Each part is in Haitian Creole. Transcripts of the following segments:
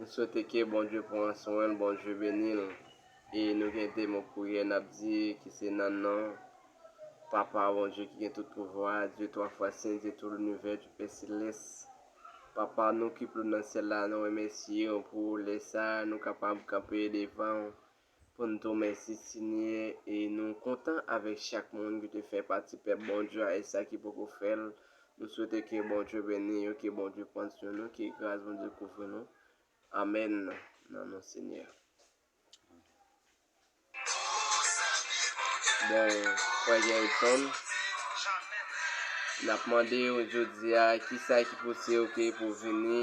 M swete ke Bondye pran swen l Bondye beni l e nou gen 2 mo priyè nap di ki se nan non papa Bondye ki gen tout pouvwa a Dye 3 fwa sen Dye tou linivè Dye pè selès papa nou ki plo nan syèl la nou remèsye w pou lè sa a nou kapab kanpe devan w pou n to mèsi Senyè e nou kontan avèk chak moun ki te fè pati pèp Bondye a e sa ki poko fè l nou swete ke Bondye beni yo ke Bondye pran swen nou ke gras Bondye kouvri nou amèn nan non Senyè Bon frè Gerritson nap mande ou jodia kisa ki pouse ou ke pou vini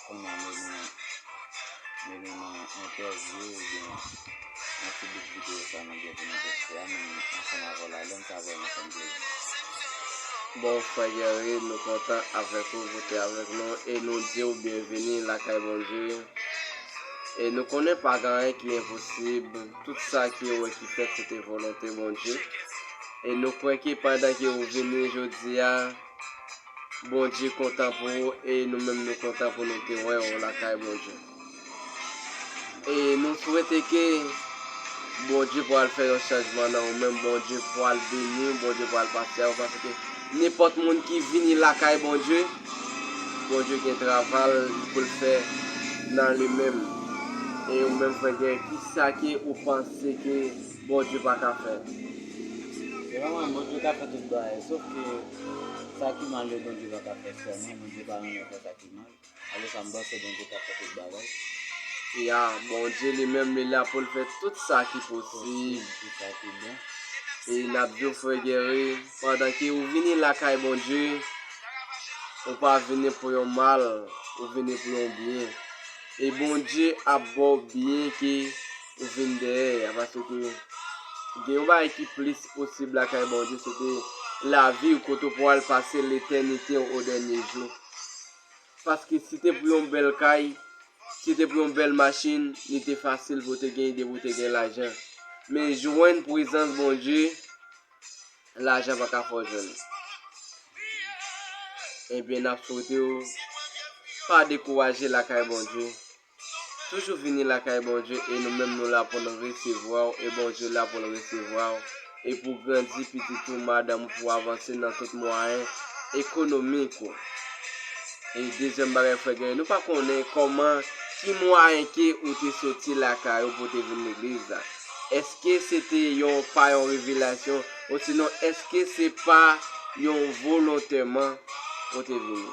Kounya nou vin nou vin nan entèvyou oubyen nan ti bout videyo sa nou gen pou nou poste a men ansanm avè w la dan sa vèman fè m plezi. Bon frè Guerry nou kontan avèk ou pou te avèk nou e nou diw byenvini lakay Bondye e nou konnen pa gen anyen ki enposib tout sa ki ou wè ki fèt se te volonte Bondye e nou kwè ke pandan ke ou vini jodia Bondye kontan pou ou e nou menm nou kontan pou nou te wè ou lakay Bondye. E nou swete ke Bondye pral fè yon chanjman nan ou menm, Bondye pral beni ou, Bondye pral pase avè ou paske nenpòt moun ki vini lakay Bondye, Bondye gen travay pou l fè nan li menm. E ou menm frè Guerrier, kisa ke ou panse ke Bondye pa ka fè. Se pa mwen Bondye ka fè tout bagay sof ke sa ki mal yo Bondye pa ka fè sèman Bondye pa renmen fè sa ki mal alò sa m panse Bondye ka fè tout bagay. Ya Bondye li menm li la poul fè tout sa ki posib tout sa ki bon e nap diw frè Guerry pandan ke ou vini lakay Bondye ou pa vini pou yon mal ou vini pou yon byen e Bondye ap baw byen ke ou vin dèyè a paske gen yon bagay ki plis posib lakay Bondye se te lavi ou kote ou pral pase letènite ou o dènye jou. Paske si te pou yon bèl kay, si te pou yon bèl machin, li te fasil pou te gen ide pou te gen lajan. Men jwenn prezans Bondye, lajan pa ka fò jwenn. Ebyen eh nap swete ou pa dekouraje lakay Bondye. Toujou vini lakay Bondye e nou menm nou la pou nou resevwa w e Bondye la pou l resevwa w e pou w grandi pitit ou, madanm ou pou w avanse nan tout mwayen ekonomik ou. E dezyèm bagay frè Guerrier, nou pa konnen kòman ki mwayen ke ou te soti lakay ou pou te vin legliz la. Eske se te yon pa yon revelasyon osinon eske se pa yon volontèman ou te vini?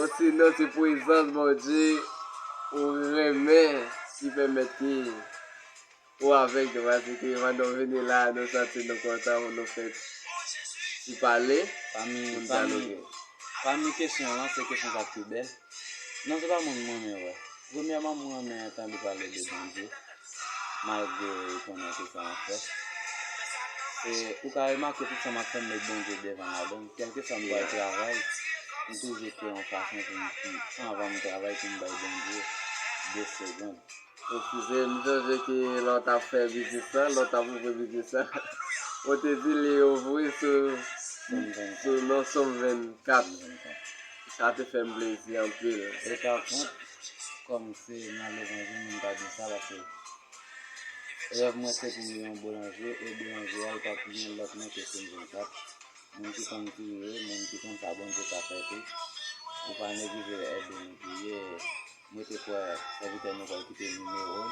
Osinon se pwezans Bondye ou renmen ki pèmèt ke ou avèg tou paske pandan ou vini la a nou santi nou kontan pou nou fèt pou pale, pou nou dyaloge. Pami kesyon lan se kesyon sa k pi bèl. Non se pa moun mwen renmen wè. Premyèman m renmen tande pale de Bondye malgre ou konnen tout sa map fè e ou ka remake tout sa map fè m met Bondye devan ladann kèlkeswa m pral travay m toujou kwè yon fason pou m di anvan m travay pou m bay Bondye 2 segond pou fouze m sonje ke lè w tap fè biznis lan lè w tap ouvri biznis lan ou te di li ouvri sou non som 24. Sa te fèm plezi anpil. E pa kont kòm se nan levanjil moun pa di sa paske rèv mwen se pou m gen yon boulanje e boulanje a li pap gen lòt non ke Sim 24 moun ki konn priye moun ki konn sa Bondye ka fè tou ou pa neglije ede nou priye mwen te kwè sèvitè nou pral kite nimewo l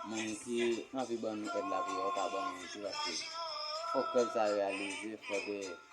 moun ki anvi ban nou èd lapriyè yo ka ban nou tou paske fòk rèv sa reyalize fòk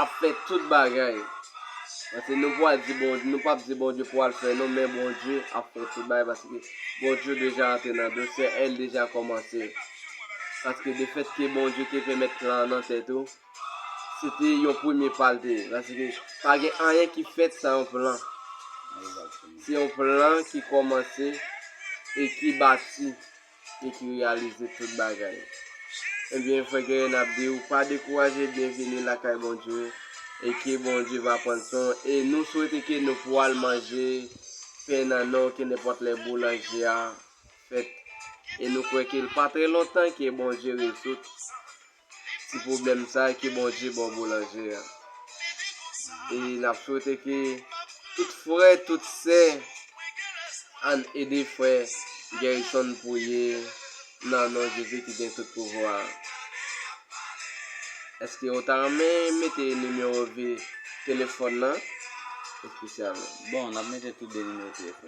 ap fè tout bagay. Paske nou pwal di bon, nou pap di Bondye pwal fè non, men Bondye ap fè tout bagay paske Bondye deja antre nan dosye a, el deja kòmanse. Paske de fèt ke Bondye te fè mèt plan an nan tè tou, se te yon premye pa l te ye. Paske pa gen anyen ki fèt san yon plan. Se yon plan ki kòmanse e ki bati e ki reyalize tout bagay. Ebyen frè Guerrier nap diw pa dekouraje byenvini lakay Bondye e ke Bondye va prann swen w e nou swete ke nou pou al manje pen nan non w ke nenpòt lè boulanje a fèt e nou kwè ke l pa trè lontan ke Bondye rezoud ti pwoblèm sa ke Bondye baw boulanje an e nap swete ke tout frè tout sè ann ede frè Guerison priye nan non Jezi ki gen tout pouvwa a. Eske ou ta renmen mete nimewo vi telefòn nan? Espesyalman. Bon, nap mete tou 2 nimewo telefòn.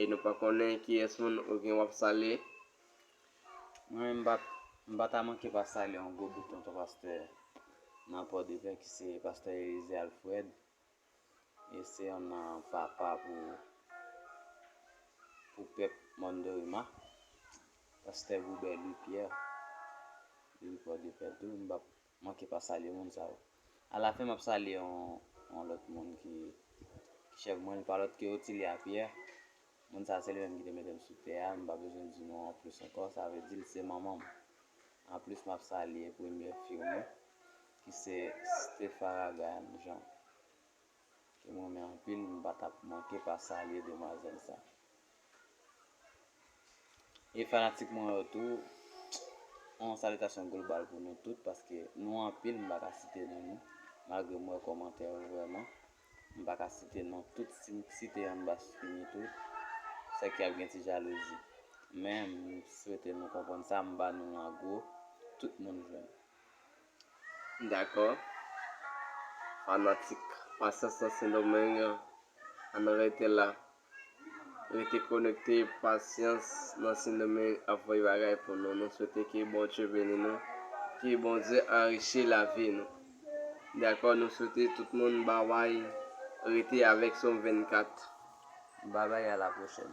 e nou pa konnen kiyès moun ou gen wap salye. Mwen menm m pa ta manke pa salye yon gwo bout tonton pastè nan pòdepè ki se pastè Elize Alfred e se yon nan papa pou pou pèp mòn Dorima pastè Goubert Louis Pierre depi pòdepè tou m pap Manke pa salye moun sa yo. A la fen map salye yon lòt moun ki chèf mwen li pa lòt ke Otilia Pierre. Moun sa se li menm ki te metem sou tè a, m pa bezwen di nou an plis ankò, sa vle di li se manmanm. An plis map salye premye fiw mwen ki se Stepharagan Jean. Ke m renmen anpil m pa tap manke pa salye demwazel sa e fanatik mwen yo tou yon salitasyon global pou nou tout paske nou anpil m pa ka site non nou malgre m wè komantè yo vreman m pa ka site non tout si m site yon m pa fini tout se ke ap gen ti jalouzi men m swete nou konprann sa m ba nou an gwo tout moun jwenn. Dakò fanatik pasyans nan sendomeng ann rete la rete konekte pasyans nan sendomeng ap voye bagay pou nou nou swete ke bondye beni nou ke bondye anrichi lavi nou dakò nou swete tout moun bby rete avèk som 24 bby a la pwochèn.